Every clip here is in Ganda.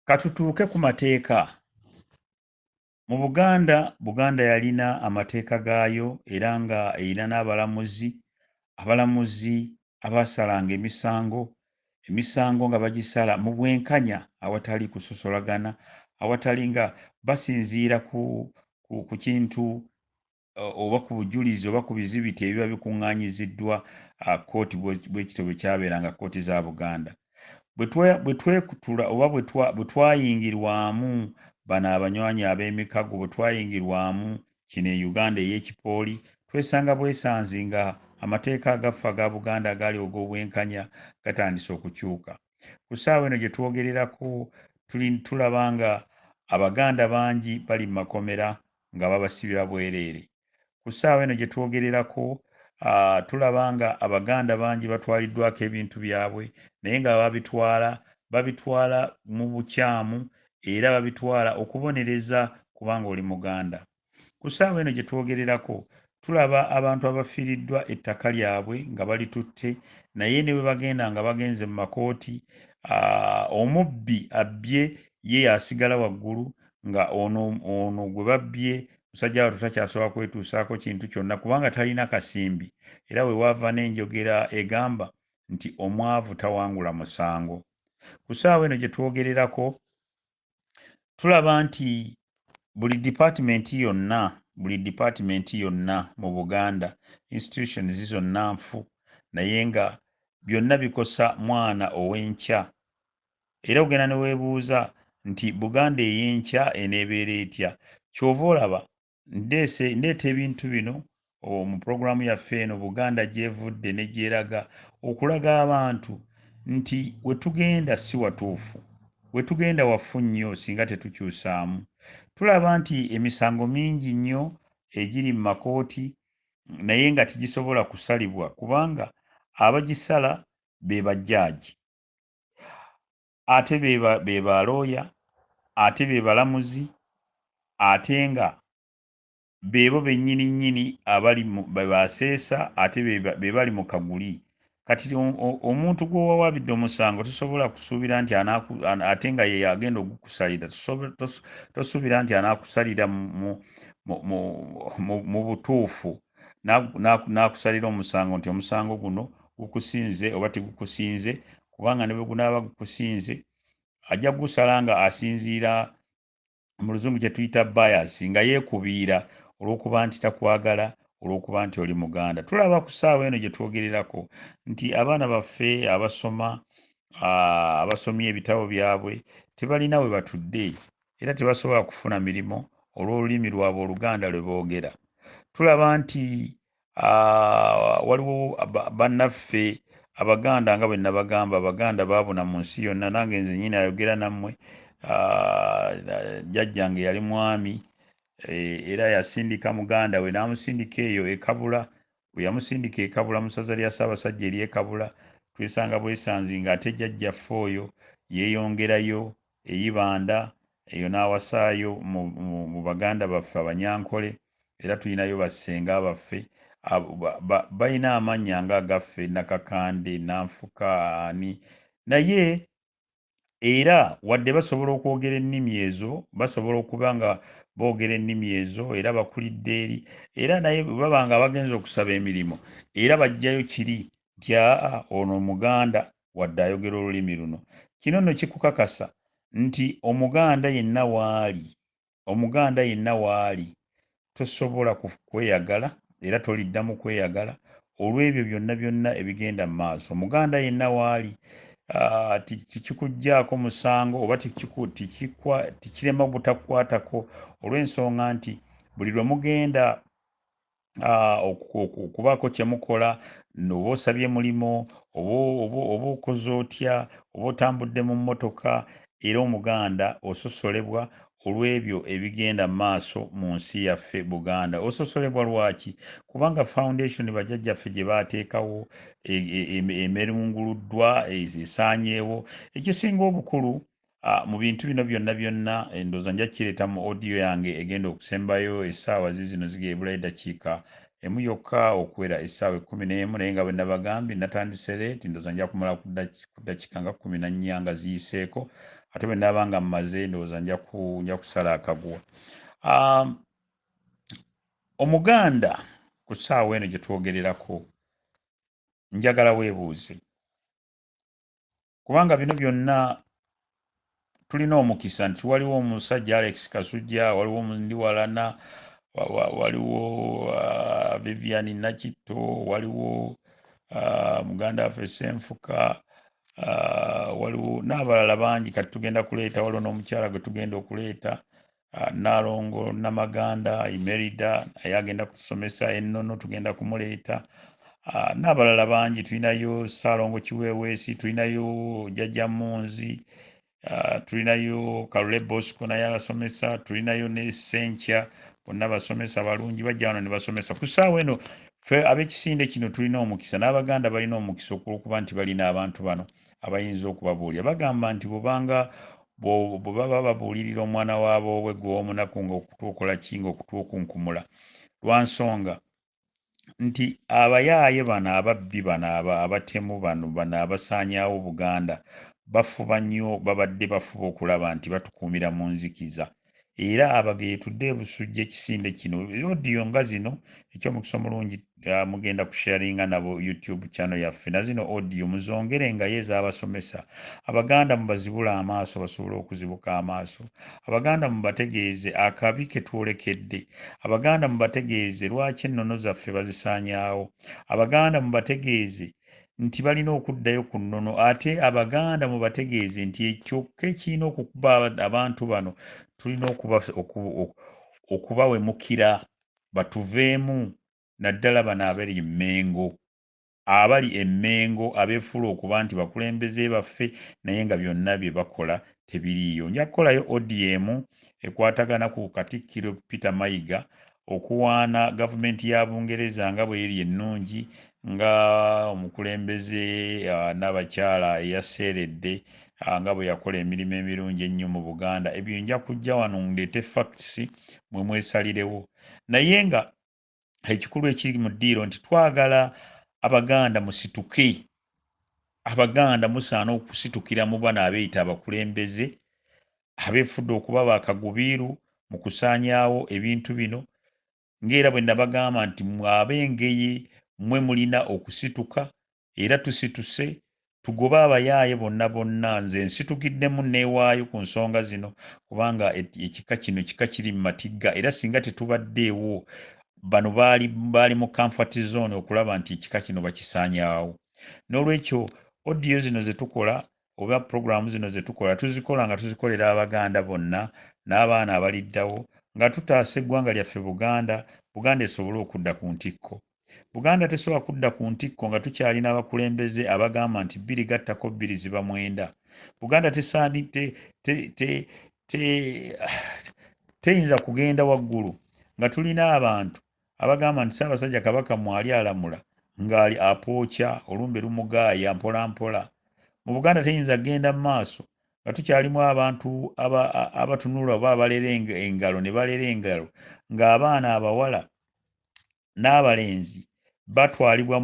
Katutuuke ku mateeka. Mu Buganda, Buganda yalina amateeka gaayo era nga erina n'abalamuzi, abalamuzi abaasalanga emisango, emisango nga bagisala mu bwenkanya awatali kusosolagana, awatali nga basinziira ku, ku, ku kintu oba ku bujulizi oba ku bizibiti ebiba bikuŋŋaanyiziddwa kkooti bwekityo bwe kyabeeranga kkooti za buganda bwe twekutula oba bwe twayingirwamu bano abanywanyi ab'emikago bwe twayingirwamu kino e uganda ey'ekipooli twesanga bwesanzi nga amateeka agaffe aga buganda agaali og'obwenkanya gatandise okukyuka ku ssaawa eno gye twogererako tulaba nga abaganda bangi bali mu makomera nga babasibira bwereere. Ku ssaawa eno gye twogererako tulaba nga Abaganda bangi batwaliddwako ebintu byabwe naye nga ababitwala babitwala mu bukyamu era babitwala okubonereza kubanga oli Muganda. Ku ssaawa eno gye twogererako tulaba abantu abafiiriddwa ettaka lyabwe nga balitutte naye ne bwe bagenda nga bagenze mu makooti omubbi abbye ye yasigala waggulu nga ono ono gwe babbye musajja watu takyasobola kwetuusaako kintu kyonna kubanga talina kasimbi era we waava n'enjogera egamba nti omwavu tawangula musango ku saawa eno gye twogererako tulaba nti buli dipaatimenti yonna buli dipaatimenti yonna mu buganda institutions zonna nfu naye nga byonna bikosa mwana ow'enkya era ogenda ne weebuuza nti buganda ey'enkya eneebeera etya kyova olaba ndeese ndeeta ebintu bino mu pulogulaamu yaffe eno buganda gyevudde ne gyeraga okulaga abantu nti wetugenda si watuufu wetugenda wafu nnyo singa tetukyusaamu tulaba nti emisango mingi nnyo egiri mu makooti naye nga tigisobola kusalibwa kubanga abagisala be bajjaaji ate be ba looya, ate be balamuzi, ate nga beebo bennyini nnyini abali be ba seesa ate be bali mu kaguli. Kati omuntu gw'owawaabidde omusango tosobola kusuubira nti ate nga ye agenda ogukusalira tosuubira nti anaakusalira mu butuufu n'akusalira omusango nti omusango guno gukusinze oba tegukusinze kubanga ne bwe gunaaba gukusinze ajja gusala nga asinziira mu luzungu kye tuyita bias nga yeekubiira olw'okuba nti takwagala olw'okuba nti oli muganda tulaba ku ssaawa eno gye twogererako nti abaana baffe abasoma abasomye ebitabo byabwe tebalina we batudde era tebasobola kufuna mirimu olw'olulimi lwabwe oluganda lwe boogera tulaba nti Ah, waliwo bannaffe abaganda nga bwenabagamba abaganda babuna mu nsi yonna nange nze nyini ayogera nammwe ah, jajjange yali mwami eh, era yasindika muganda we namusindika eyo ekabula weyamusindika ekabula musaza lya saabasajja eri ekabula twesanga bwesanzi nga ate jajjaffe oyo yeyongerayo e Ibanda, eyo n'awasaayo mu, mu, mu baganda baffe Abanyankole, era tulinayo bassenga baffe ab, ba, ba, balina amannya nga agaffe, Nakakande, Nanfuka, ani. Naye, era, wadde basobola okwogera ennimi ezo, basobola okuba nga boogera ennimi ezo, era bakulidde eri, era, naye bwe baba nga abagenze okusaba emirimu, era baggyayo kiri, nti, Aa, ono Omuganda. wadde ayogera olulimi luno. Kino nno kikukakasa nti Omuganda yenna w'ali, Omuganda yenna w'ali tosobola kweyagala era toliddamu kweyagala olw'ebyo byonna byonna ebigenda mu maaso. Omuganda yenna w'ali tikikuggyaako musango oba tikirema butakukwatako olw'ensonga nti buli lwe mugenda ah, okubaako kye mukola oba osabye mulimu oba okoze otya oba otambudde mu mmotoka era omuganda ososolebwa olw'ebyo ebigenda mu maaso mu nsi yaffe buganda ososolebwa lwaki kubanga foundation bajajjaffe gye baateekawo e, e, e, emerunguluddwa esaanyeewo ekisinga obukulu Ah, mu bintu bino byonna byonna eh, ndoza nja kireta mu audio yange egenda okusembayo esaawa zizino zigebula edakiika emu yokka okuwera esaawa ekumi n'emu naye nga bwenabagambye natandise leeti ndoza nja kumala ku dakiika nga kumi na nnya nga ziyiseeko ate bwenaba nga mmaze ndowooza nja kusala akaguwa ah, omuganda ku saawa eno gyetwogererako njagala webuuze kubanga bino byonna tulina omukisa nti waliwo omusajja alex kasujja waliwo ndiwalana waliwo uh, vivian nakitto waliwo uh, muganda waffe senfuka uh, waliwo n'abalala bangi kati tugenda kuleeta waliwo n'omukyala gwe tugenda okuleeta Ah, Nnaalongo Namaganda Imerida naye agenda kutusomesa ennono, tugenda kumuleeta ah, n'abalala bangi. Tulinayo Ssaalongo Kiweeweesi, tulinayo Jajja Munzi, ah, tulinayo Kalule Bosco naye abasomesa, tulinayo ne Senkya, bonna basomesa balungi, bajja wano ne basomesa. Ku ssaawa eno ffe ab'ekisinde kino tulina omukisa, n'Abaganda balina omukisa okulwokuba nti balina abantu bano. abayinza okubabuulira bagamba nti bwobanga bwe baba babuulirira omwana wa boobwe gw'omunaku nga okutu okola ki nga okutu okunkumula lwa nsonga nti abayaaye bano ababbi bano abatemu bano bano abasaanyaawo buganda bafuba nnyo babadde bafuba okulaba nti batukuumira mu nzikiza era abage yetudde ebusujja ekisinde kino odiyo nga zino ekyomukisa omulungi ah, mugenda kusharinga nabo youtube channel yaffe na zino odiyo muzongere nga ye ezabasomesa abaganda mubazibula amaaso basobole okuzibuka amaaso abaganda mubategeeze akabi ketwolekedde abaganda mubategeeze lwaki ennono zaffe bazisaanyaawo abaganda mubategeeze nti balina okuddayo ku nnono ate abaganda mubategeeze nti ekyokka ekirina okukuba abantu bano tulina okubawemukira batuveemu naddala bano abali emmengo abali emmengo abefuula okuba nti bakulembeze baffe naye nga byonna bye bakola tebiriiyo. Nja kukolayo odiyo emu ekwatagana ku Katikkiro Peter Mayiga okuwaana gavumenti ya Bungereza nga bweri ennungi nga omukulembeze Nnabakyala eyaseeredde nga bwe yakola emirimu emirungi ennyo mu Buganda. Ebyo nja kujja wano ndeete facts mmwe mwesalirewo. Naye nga ekikulu ekiri mu ddiiro nti twagala abaganda musituke abaganda musaana okusitukira mu bano abeeyita abakulembeze abeefudde okuba bakagubiiru mu kusaanyaawo ebintu bino ng'era bwe nabagamba nti mwabe engeye mwe mulina okusituka era tusituse tugobe abayaaye bonna bonna nze nsitukiddemu nneewaayo ku nsonga zino kubanga ekika kino kika kiri mu matigga era singa tetubaddeewo bano baali baali mu comfort zone okulaba nti ekika kino bakisaanyaawo n'olwekyo odiyo zino ze tukola oba pulogulaamu zino ze tukola tuzikola nga tuzikolera abaganda bonna n'abaana abaliddawo nga tutaasa eggwanga lyaffe buganda buganda esobole okudda ku ntikko Buganda tesobola kudda ku ntikko nga tukyalina abakulembeze abagamba nti bbiri gattako bbiri ziba mwenda. Buganda tesaani te, te, te, te, teyinza kugenda waggulu nga tulina abantu abagamba nti Ssaabasajja Kabaka mwali alamula ng'ali apookya olumbe lumugaaya mpola mpola. Mu Buganda teyinza kugenda mu maaso nga tukyalimu abantu abatunula oba abalera engalo ne balera engalo ng'abaana abawala n'abalenzi batwalibwa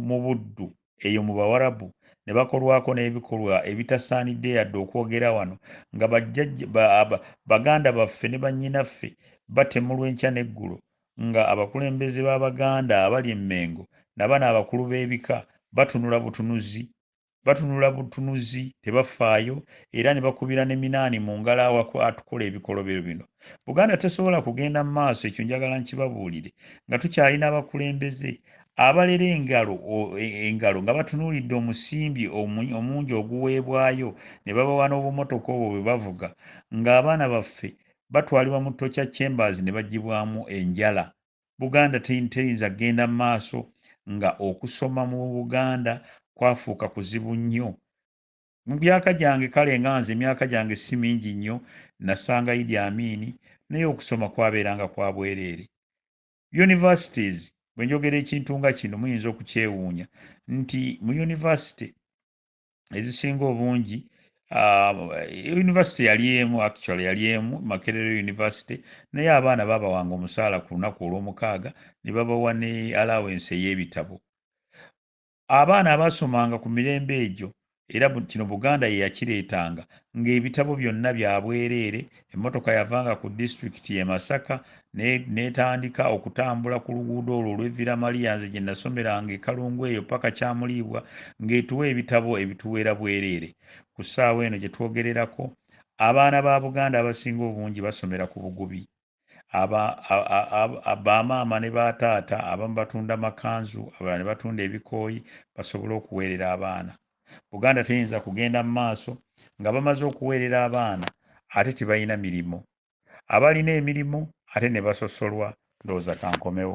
mu buddu eyo mu bawarabu ne bakolwako n'ebikolwa ebitasaanidde yadde okwogera wano nga baganda baffe ne bannyinaffe batemulwa enkya n'eggulo nga abakulembeze b'abaganda abali emmengo nabano abakulu b'ebika batunula butunuzi batunula butunuzi tebafaayo era ne bakubira ne minaani mu ngalo awatukola ebikolobero bino buganda tesobola kugenda mu maaso ekyo njagala nkibabuulire nga tukyalina abakulembeze abalera engalo e, engalo nga batunuulidde omusimbi omungi oguweebwayo ne babawa n'obumotoka obwo bwe bavuga ng'abaana baffe batwalibwa mu tocha chambers ne bagibwamu enjala Buganda teyinza kugenda mu maaso nga okusoma mu Buganda kwafuuka kuzibu nnyo. Mu byaka gyange, kale nga nze emyaka gyange si mingi nnyo, nasanga Idi Amin, naye okusoma kwabeeranga kwa bwereere. Universities, bwe njogera ekintu nga kino muyinza okukyewuunya nti mu University ezisinga obungi ah, university yali emu actually yali emu makerere university naye abaana babawanga omusaala ku lunaku olwomukaaga ne babawa ne allowance ey'ebitabo abaana abaasomanga ku mirembe egyo era kino buganda yeyakireetanga ng'ebitabo byonna byabwereere Emmotoka yavanga ku disitulikiti ye Masaka n'etandika okutambula ku luguudo olwo olw'e Villa Maria nze gye nasomeranga e Kalungu eyo paka Kyamuliibwa ng'etuwa ebitabo ebituweera bwereere. Ku ssaawa eno gye twogererako, abaana ba Buganda abasinga obungi basomera ku bugubi. Ba maama ne ba taata abamu batunda makanzu, abalala ne batunda ebikooyi basobole okuweerera abaana. Buganda teyinza kugenda mu maaso nga bamaze okuweerera abaana ate tibalina mirimu. Abalina emirimu ate ne basosolwa. Ndowooza kankomewo.